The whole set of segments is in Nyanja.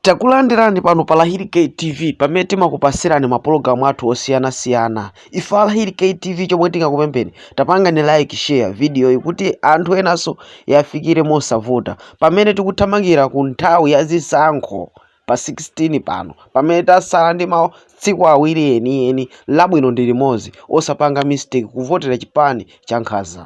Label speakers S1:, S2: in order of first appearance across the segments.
S1: Takulandirani pano pa Lahiri K TV pamene timakupatsirani mapulogalamu athu osiyanasiyana. Ife a Lahiri K TV chomwe tingakupempheni tapangani like share vidiyoyi kuti anthu enanso yafikire mosavuta pamene tikuthamangira ku nthawi ya zisankho pa 16 pano pamene tasala ndi matsiku awiri enieni labwino ndi limodzi osapanga mistake kuvotera chipani cha nkhaza.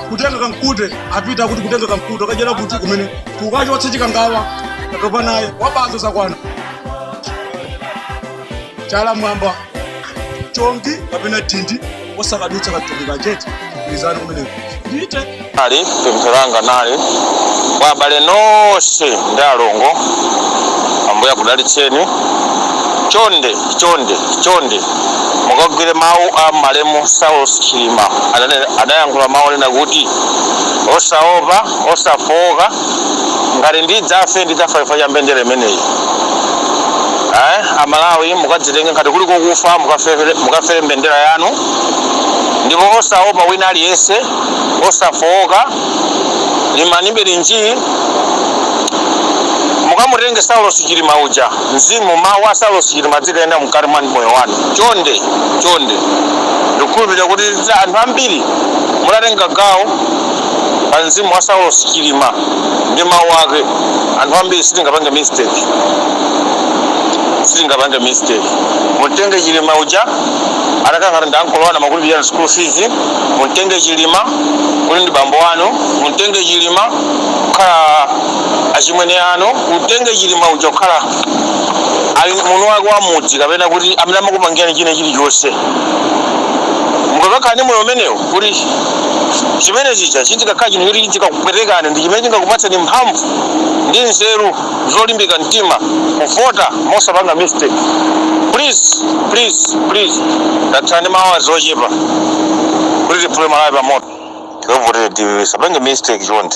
S2: kutenga kamkute apite akuti kutenga kamkute akayela kuti kumene kukachotsa chikangawa atopa naye wabazo zakwana chala mwamba chongi kapena dindi osakadutsa katundu kachete izani kumeneko ndite. Ali
S3: pemphero langa nali kwa abale nonse ndi alongo ambuye akudalitseni chonde chonde chonde Mukagwire mawu a malemu Saulos Chilima ananena anayankhula mawu onena kuti osaopa, osafooka, ngati ndidzafe ndidzafa chifukwa cha mbendera imeneyi. Ayi a Malawi mukadzitenge ngati kuli kukufa mukafere, mukafere mbendera yanu ndipo osaopa wina aliyense, osafooka, limbani bwinji mukamutenge Saulos Chilima uja. Mzimu, Mawu a Saulos Chilima azikayenda mkati mwa moyo wanu chonde chonde. Ndikukhulupirira kuti anthu ambiri mutatenga gawo pa mzimu wa Saulos Chilima ndi mawu ake, anthu ambiri sitingapange mistake, sitingapange mistake. Mumtenge Chilima uja atakhala ngati ndi ankolo wanu amakulipirira school fees, mumtenge Chilima kuti ndi bambo wanu, mumtenge Chilima kukhala achimwene anu mumtenge Chilima uja kukhala ali munthu wake wa mudzi kapena kuti amene amakupangirani china chilichonse mukakakhala ndi moyo umenewo kuti chimene chicha chizikakhala chinthu choti chizikakupwetekani ndi chimene chingakupatseni mphamvu ndi nzeru zolimbika mtima kuvota mosapanga mistake please please please tatsala ndi maawa ochepa kuti tiphule malawi pamoto povotera DPP tisapange mistake chonde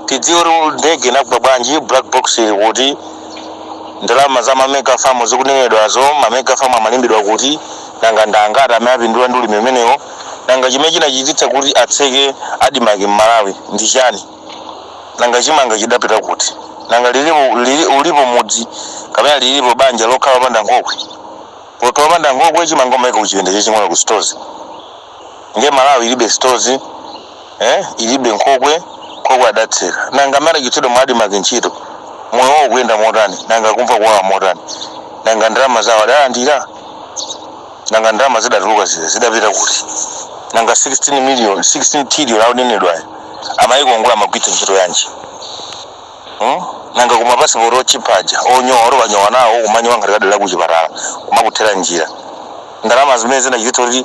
S3: tidziwe kuti ndege inagwa bwanji black box ili kuti ndalama za mamega famu zikunenedwazo mamega famu amalimidwa kuti nanga ndangati amene apindula ndi ulimi umenewo nanga chimene chinachititsa kuti atseke adimaki m'malawi ndi chiyani nanga chimanga chidapita kuti nanga lilipo, lili, ulipo mudzi kapena lilipo banja lokhala opanda nkhokwe poti opanda nkhokwe chimanga umaika kuchipinda chaching'ono ku stores ndiye malawi ilibe stores eh? ilibe nkhokwe nkhokwe adatseka nanga amene achotsedwa mwa adimaki ntchito moyo wawo ukuyenda motani nanga akumva kuwawa motani nanga ndalama zawo adalandira nanga ndalama zidatuluka zija zidapita kuti nanga 16 million 16 trillion akunenedwayo amayikongola amagwiritsa ntchito yanji Hmm? nanga kumapasipoti otchipa aja onyowa oti ukanyowa nawo kumanyowa ngati khadi la kuchipatala kumakuthera njira ndalama zimene zinachititsa kuti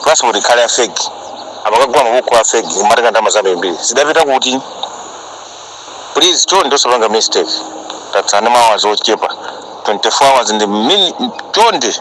S3: pasipoti ikhale ya fake amakagula mabuku a fake kumatenga ndalama zambirimbiri zidapita kuti please chonde osapanga mistake tatsala ndi maawazi ochepa 24 hours ndi chonde